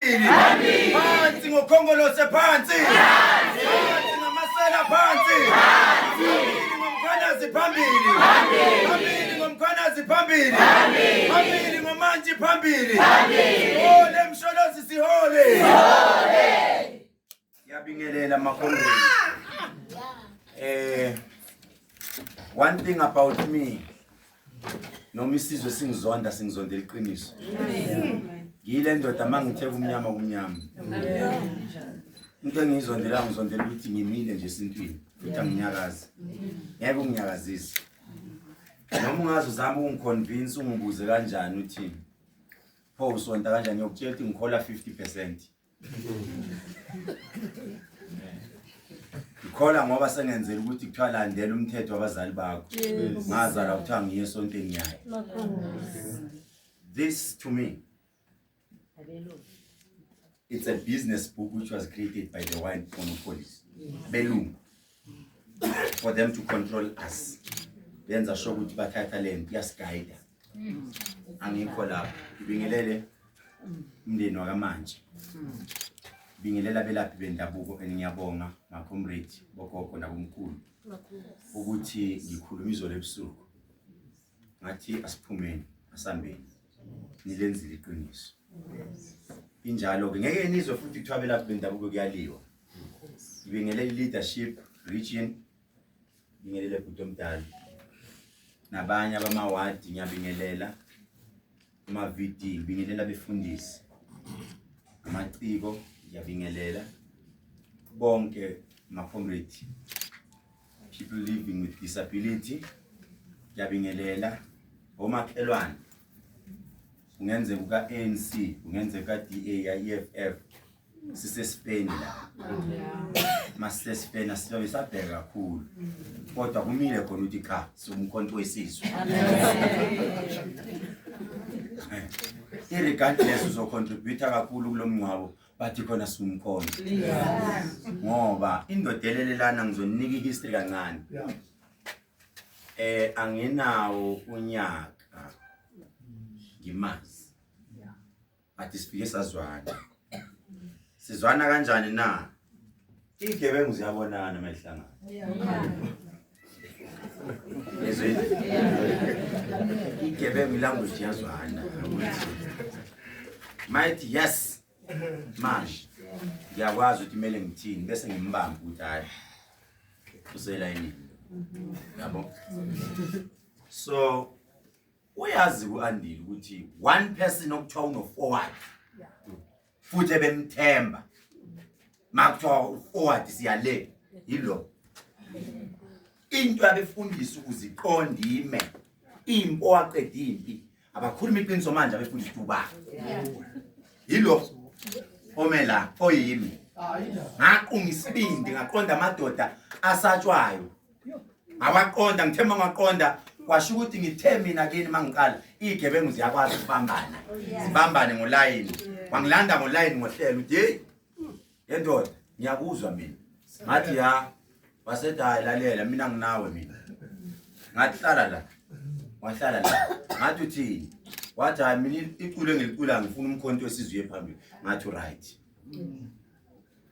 phansi ngokhongolose phansi phansi ngamasela phansi ngomkhwanazi phambili phambili ngomkhwanazi phambili phambili ngomantshi phambili sihole msholozi sihole Ngiyabingelela makhondeni. Eh one thing about me noma isizwe singizonda singizondela iqiniso. Ngiyile ndoda mangithe kumnyama kumnyama. Into engiyizondela ngizondela ukuthi ngimile nje esintwini futhi anginyakazi. Ngeke unginyakazise. Noma ungazi uzama ukungiconvince ungibuze kanjani uthini. Pho usonta kanjani ngiyokutshela ukuthi ngikhola 50%. ngikhola ngoba sengenzela ukuthi kuthiwa landela umthetho wabazali bakho ngazalwa kuthiwa ngiye esontweni yayo this to me it's a business book which was created by the wine monopolies belungu for them to control us benza sho ukuthi bathatha le mpi yasigayida angikho lapho ngibingelele umndeni wakamanje bingelela abelaphi bendabuko and ngiyabonga makhomredi bogogo nabomkhulu ukuthi ngikhuluma izolo ebusuku ngathi asiphumeni asambeni nilenzile iqiniso injalo-ke ngeke nizwe futhi kuthiwa abelaphi bendabuko kuyaliwa ngibingelele i-leadership region ngibingelele bhuti omdala nabanye abamawadi ngiyabingelela ama-vd ngibingelela abefundisi amaciko ngiyabingelela bonke makhomredi people living with disability ngiyabingelela omakhelwane kungenzeka uka-anc kungenzeka ka-da ya-eff sisesipeni la masisesipeni asilobe sabheka kakhulu kodwa kumile khona ukuthi cha siwumkhonto wesizwe irregardless uzocontributa kakhulu kulo mngcwabo bathi khona sumkhona ngoba indoda elelelana ngizoninika ihistory kancane eh anginawo unyaka ngimazi bathi sifike sazwana sizwana kanjani na Igebengu ziyabonana uma ihlangana. Yezweni. Igebengu language yazwana ukuthi might yes manje ngiyakwazi ukuthi kumele ngithini bese ngimbamba ukuthi hayi uselayini yabo so uyazi ku-andile ukuthi one person okuthiwa unofour wakhe futhi ebemthemba makuthiwa uforward siya le yilo into abefundisa ukuziqonda ime impi owaqeda impi abakhuluma iqiniso manje abefundisa uba yilo omela oyimi ngaqunga isibindi ngaqonda amadoda asatshwayo ngawaqonda ngithe uma ngaqonda kwasho ukuthi ngithe mina kini uma ngiqala iy'gebengu ziyakwazi ukubambana zibambane ngolayini wangilanda ngolayini ngohlelo uthi yeyi yendoda ngiyakuzwa mina ngathi ya wasethi hayi lalela mina nginawe mina ngathi hlala la wahlala la ngathi uthini wathi hayi mina iculo engilicula ngifuna umkhonto wesizwe phambili ngathi uright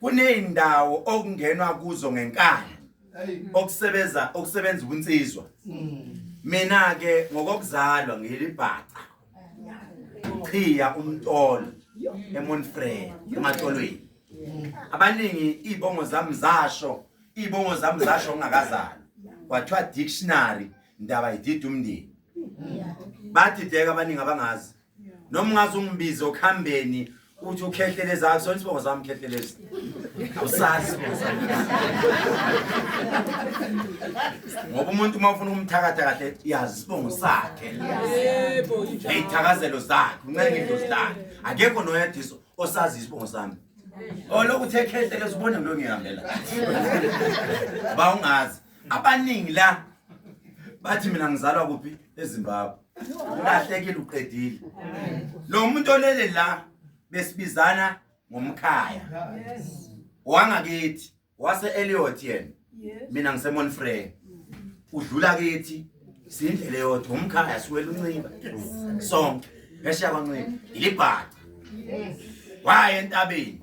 kuneyindawo okungenwa kuzo ngenkani okusebenza okusebenza ubunsizwa mm. mina ke ngokokuzalwa ngilibhaca uchiya umtolo emonfrey ematolweni abaningi ibongo zami zasho ibongo zami zasho ngingakazali kwathiwa dictionary ndaba idida umndeni bathi deka abaningi abangazi noma ungaze ungibize okuhambeni uthi ukhehleles akusona isibongo sami khehleles awusazi isibongo sami ngoba umuntu uma ufuna ukumthakatha kahle yazi isibongo sakhe ney'thakazelo zakhe uncenge idlozi lakhe akekho noyediso osazi isibongo sami olokhu uthe khehleles ubona ngilo ngihambela ba ungazi abaningi la bathi mina ngizalwa kuphi ezimbabwe ulahlekile uqedile lo muntu olele la besibizana ngomkhaya wangakithi wase Elliot yena mina ngisemon frey udlula kithi sindlela yodwa umkhaya siwela unxiba sonke ngesha kwancika ilibhaca waye entabeni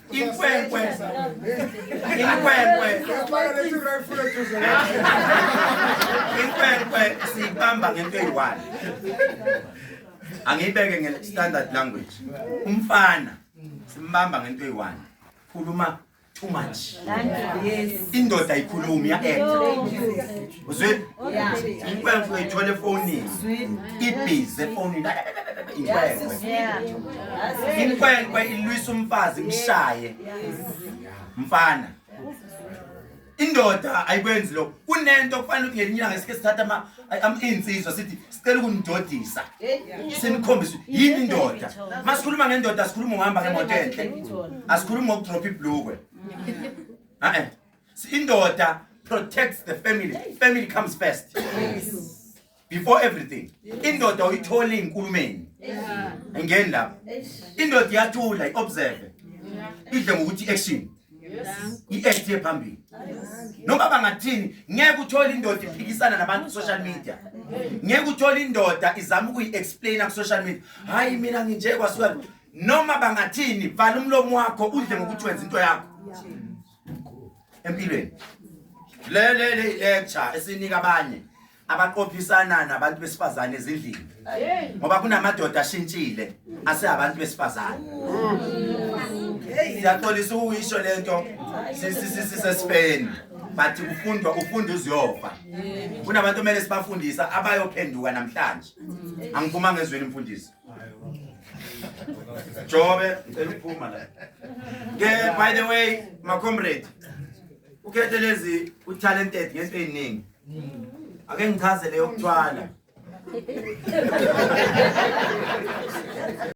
Inkwenkwe. Inkwenkwe. Inkwenkwe siyibamba ngento eyi-one. Angiyibeke nge-standard language. Umfana simbamba ngento eyi-one. Khuluma too much. Indoda ikhulumi ya-act. uzwile inkwenkwe uyayithola efonini ibhizi efonini inkwenkwe inkwenkwe ilwisa umfazi imshaye mfana indoda ayikwenzi lokho kunento kufanele ukuthi ngelinye ilanga sike sithatha iy'nsizwa sithi sicela ukunidodisa sinikhombise yini indoda uma sikhuluma ngendoda asikhulumi ngohamba ngemoto enhle asikhulumi ngokudropha ibhlukwe a-e indoda protects the family family comes first before everything indoda uyithola inkulumeni ngeni lapha indoda iyathula iobserve idle ngokuthi action i-act yephambili noma bangathini ngeke uthole indoda iphikisana nabantu social media ngeke uthole indoda izama ukuyi-explaina ku-social media hhayi mina nginje kwasuka noma bangathini vala umlomo wakho udle ngokuthi wenza into yakho empilweni le le le lecture esinika abanye abaqophisana nabantu besifazane ezindlini ngoba kunamadoda ashintshile asehabantu besifazane siyaxolisa ukuyisho lento sisesifeni but ufundwa ufunda uziyofa kunabantu omele sibafundisa abayophenduka namhlanje angiphumanga ezweni mfundisi Jobe cela uphuma la. Ke by the way ma comrade ukhethe lezi u talented ngento eziningi. Ake ngichaze leyo kuthwala.